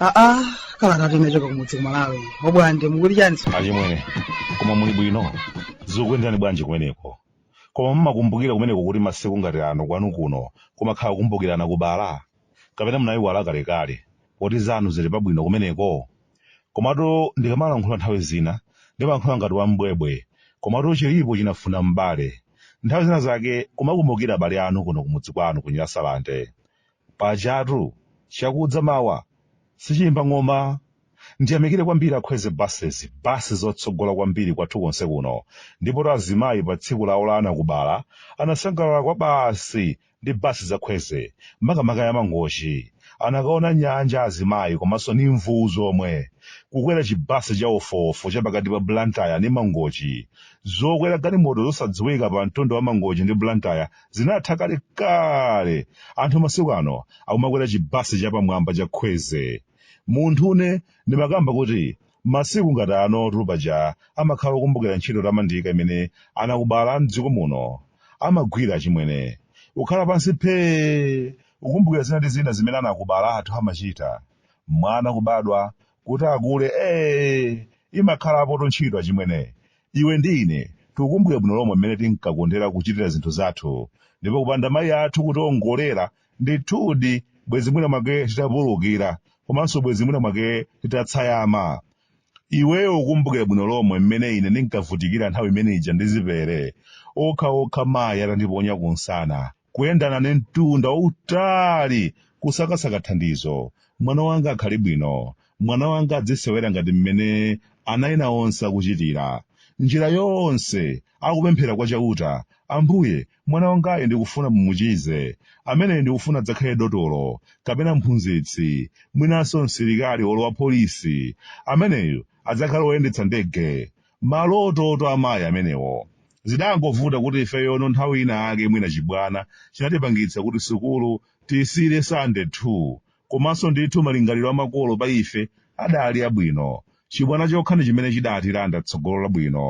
aa kalata yochokera kumudzi kumalawi a bwande mukuti chani achimwene koma muli bwino zikuyenderani bwanji kumeneko koma mumakumbukira kumeneko kuti masiku ngati ano kwanu kuno kumakhala kukumbukira anakubala kapena munayiwala kalekale poti zanu zili pabwino kumeneko? Komatu ndikamalankhula nthawi zina ndimalankhula ngati wam'bwebwe komatu chilipo chinafuna mbale. Nthawi zina zake kumakumbukira abale anu kuno kumudzi kwanu ku Nyasalande. Pajatu chakudza mawa sichiyimba ng'oma. Ndiyamikire kwambiri a Khwezy Buses, bus zotsogola kwambiri kwathu konse kuno. Ndipotu azimayi pa tsiku lawo la anakubala anasangalala kwabasi ndi bus za khwezy makamaka ya mangochi anakaona nyanja azimayi komanso ni mvuwu zomwe kukwera chibasi cha wofuwofu cha pakati pa blantyre ndi mangochi zokwera galimoto zosadziwika pa mtunda wa mangochi ndi blantyre zinatha kale kale anthu masiku ano akumakwera chibasi cha pamwamba cha khwezy munthune ndimakamba kuti Masiku ngati anotu paja amakhala okumbukira ntchito yotamandika imene anakubala am'dziko muno amagwira achimwene. Kukhala pansi phee! Kukumbukira zina ndi zina zimene anakubala athu amachita. Mwana kubadwa, kuti akule ee! Imakhalapotu ntchito achimwene. Iwe ndi ine tikukumbukira bwino lomwe mmene tinkakondera kuchitira zinthu zathu. Ndipo kupanda mayi athu kutiongolera ndithudi bwezi mwina mwake titapulukira komanso bwezi mwina mwake titatsayama iweyo ukukumbukira bwino lomwe mmene ine ndinkavutikira nthawi imene ija ndi zipere okha okha mayi atandiponya kunsana kuyenda nane mtunda wautali kusakasaka thandizo mwana wanga akhale bwino mwana wanga adzisewera ngati mmene ana ena onse akuchitira njira yonse akupemphera kwa Chauta, Ambuye, mwana wangayu ndikufuna mumuchize. Ameneyu ndikufuna adzakhale dotolo, kapena mphunzitsi, mwinanso msilikali olo wapolisi. Ameneyu adzakhale woyendetsa ndege. Malototu a mayi amenewo! Zidangovuta kuti ifeyono nthawi ina yake mwina chibwana chinatipangitsa kuti sukulu tiisiyire Sitandade 2. Komanso ndithu malingaliro a makolo pa ife adaali abwino. Chibwana chokha ndi chimene chidaatilanda tsogolo labwino.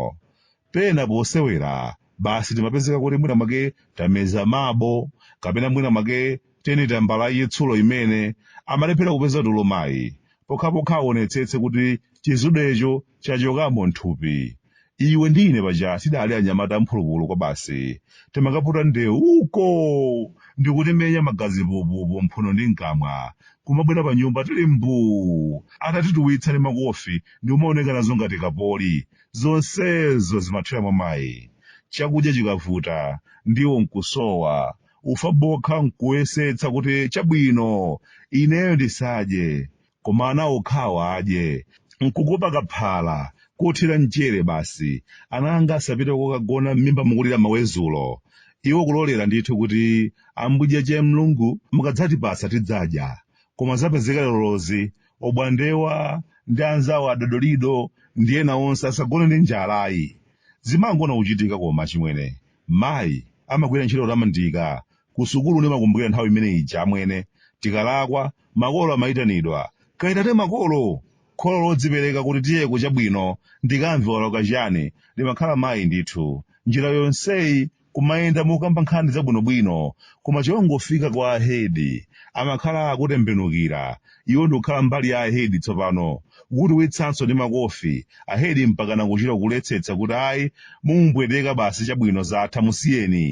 Pena posewera, basi timapezeka kuti mwina mwake tameza mabo, kapena mwina mwake teni tambala yachitsulo imene, amalephera kupeza tulo mayi, pokhapokha aonetsetse kuti chizudecho chachokamo m'thupi. iwe ndi ine paja tidali anyamata amphulupulu kwabasi timakaputa ndewu uko ndikutimenya magazi pupupu mphuno ndi mkamwa kumabwera pa nyumba tili mbuu atatituwitsa ndi makofi ndi kumaoneka nazo ngati kapoli zonsezo zimathera mwa mayi chakudya chikavuta ndiwo nkusowa ufa bokha nkuyesetsa kuti chabwino ineyo ndisadye koma ana okhawo adye nkukupa kaphala kothira mchere basi ana anga asapite kokagona m'mimba mukulira mawezulo iwo kulolera ndithu kuti ambuje che mlungu mukadzatipasa tidzadya koma zapezeka lerolozi obwandewa ndi anzawo adodolido ndi ena onse asagone ndi njala ayi zimangona kuchitika koma chimwene mayi amagwira ntchito kutamandika Kusukulu ndimakumbukira nthawi imene ija amwene, tikalakwa, makolo amaitanidwa, Kaitane makolo! Kholo lodzipereka kuti tiyeko chabwino, ndikamve walakwa chiyani, limakhala mayi ndithu. Njira yonseyi kumayenda mokamba nkhani zabwinobwino, koma chongofika kwa a hedi, amakhala akutembenukira, iwo ndikukhala mbali ya a hedi tsopano, kukutuwitsanso ndi makofi, a hedi mpakana kuchita kuletsetsa kuti ayi, mumupweteka basi chabwino zatha musiyeni.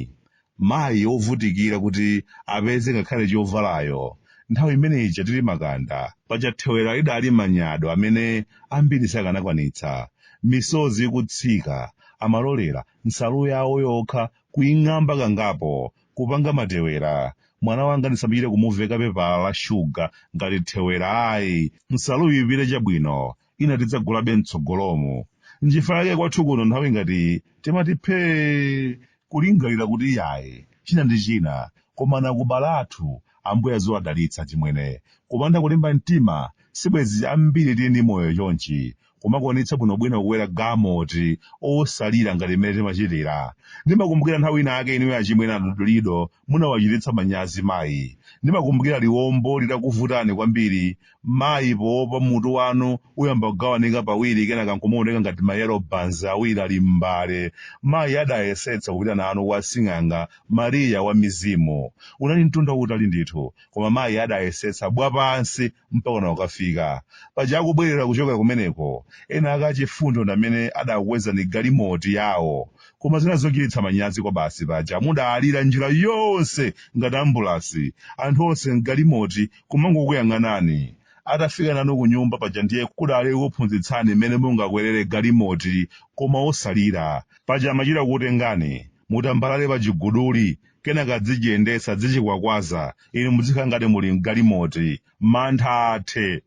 mayi wovutikira kuti apeze ngakhale chovalayo nthawi imene ija tili makanda paja thewera lidali manyado amene ambiri sakanakwanitsa misozi ikutsika amalolera nsalu yawo yokha kuing'amba kangapo kupanga matewera mwana wanga ndisamachite kumuveka pepala la shuga ngati thewera ayi nsaluyi ipite chabwino ina tidzagulabe mtsogolomo nchifukwa yake kwathu kuno nthawi ngati timati phee kulingalira kuti iyayi china ndi china koma anakubala athu ambuye aziwadalitsa chimwene kupanda kulimba mtima sibwezi ambiri tili ndi moyo chonchi kumakwanitsa bwinobwino kukwera galimoto osalira ngati mmene timachitira ndimakumbukira nthawi ina ake inuyo achimwene adodolido munawachititsa manyazi mayi ndimakumbukira liwombo litakuvutani kwambiri Mayi poopa mutu wanu uyamba kugawanika pawiri kenaka nkumaoneka ngati ma yellow buns awiri ali m'mbale. Mayi adayesetsa kupita nanu kwa sing'anga Maria wa mizimu. Unali mtunda wautali ndithu, koma mayi adayesetsa wapansi mpakana kukafika. Paja akubwerera kuchokera kumeneko, ena ake achifundo ndamene adakukwezani galimoti yawo. Koma zinali zochititsa manyazi kwabasi paja mudalira njira yonse ngati ambulasi, anthu onse m'galimoti kumangokuyang'anani. Atafika nanu kunyumba paja ndiye kudali kukuphunzitsani mmene mungakwerere galimoti koma osalira. Paja amachita kukutengani, mutambalale pachiguduli, kenaka adzichiyendetsa, adzichikwakwaza, inu mudzikhala ngati muli m'galimoti. Mantha athe!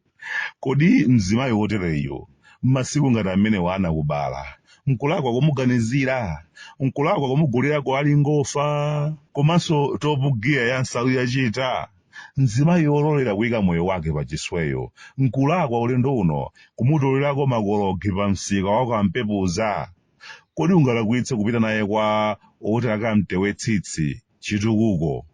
Kodi mzimayi wotereyu, mmasiku ngati amenewa anakubala, nkulakwa kumuganizira? Nkulakwa kumugulira ko alingofa komanso Top Gear ya nsalu ya chita? Mzimayi ololera kuika moyo wake pachisweyo, nkulakwa ulendo uno kumutolerako makologi pa msika wa kwa Mpepuza? Kodi ungalakwitse kupita naye kwa oti akamtewe tsitsi, chitukuko?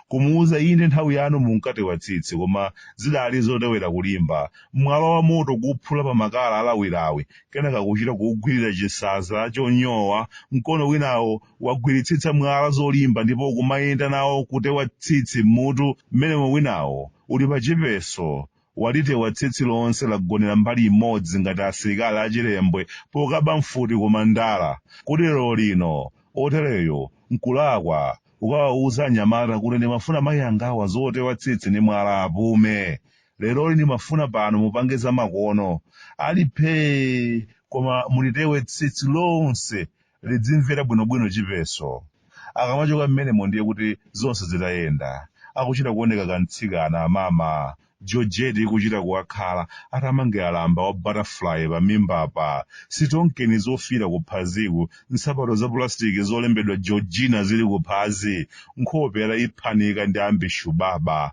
Kumuuza ine nthawi yanu munkatewa tsitsi koma zidali zotewera kulimba, mwala wa moto kuuphula pa makala alawilawi kenaka kuchita kuugwirira chisanza chonyowa mkono winawo wagwiritsitsa mwala zolimba ndipo kumayenda nawo kutewa tsitsi m'mutu mmenemo winawo uli pachipeso, walitewa tsitsi lonse lagonera mbali imodzi ngati asilikali a Chilembwe pokaba mfuti ku Mandala, kodi lerolino otereyo n'kulakwa kukawauza anyamata kuti ndimafuna mayi angawa zotewa tsitsi ndi mwala apume. Leroli ndimafuna pano mupange zamakono. Ali phee! Koma mulitewe tsitsi lonse lidzimvera bwinobwino chipeso. Akamachoka mmenemo ndiye kuti zonse zitayenda. Akuchita kuoneka kamtsikana, amama. Georgette ikuchita kuwakhala atamangira lamba wa butterfly pamimbapa, sitonkeni zofiira kuphaziku, nsapato za pulasitiki zolembedwa Georgina zili kuphazi. Nkhope ataiphanika ndi ambishubaba.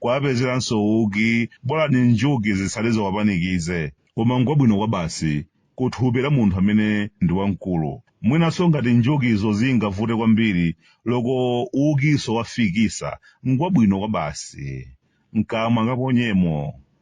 kuwapezeranso uki bola njuki zitsale ziwapanikize koma ngwabwino kwabasi ku thupi la munthu amene ndi wamkulu mwinanso ngati njukizo zingavute kwambiri loko ukinso wa fikisa ngwabwino kwabasi mkamwa kaponyemo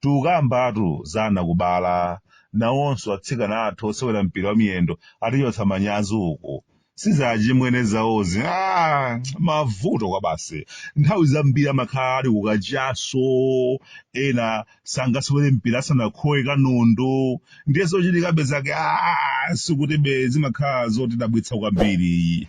Tukambatu za anakubala. Nawonso atsikana athu osewera mpira wa miyendo atichotsa manyazi uku. Si za achimwene zawozi. Aaa! Mavuto kwabasi. Nthawi zambiri amakhala ali ku kachaso, ena sangasewere mpira asanakhowe kanundu. Ndiye zochitikabe zake aaa! Sikutibe zimakhala zotidabwitsa kwambiri.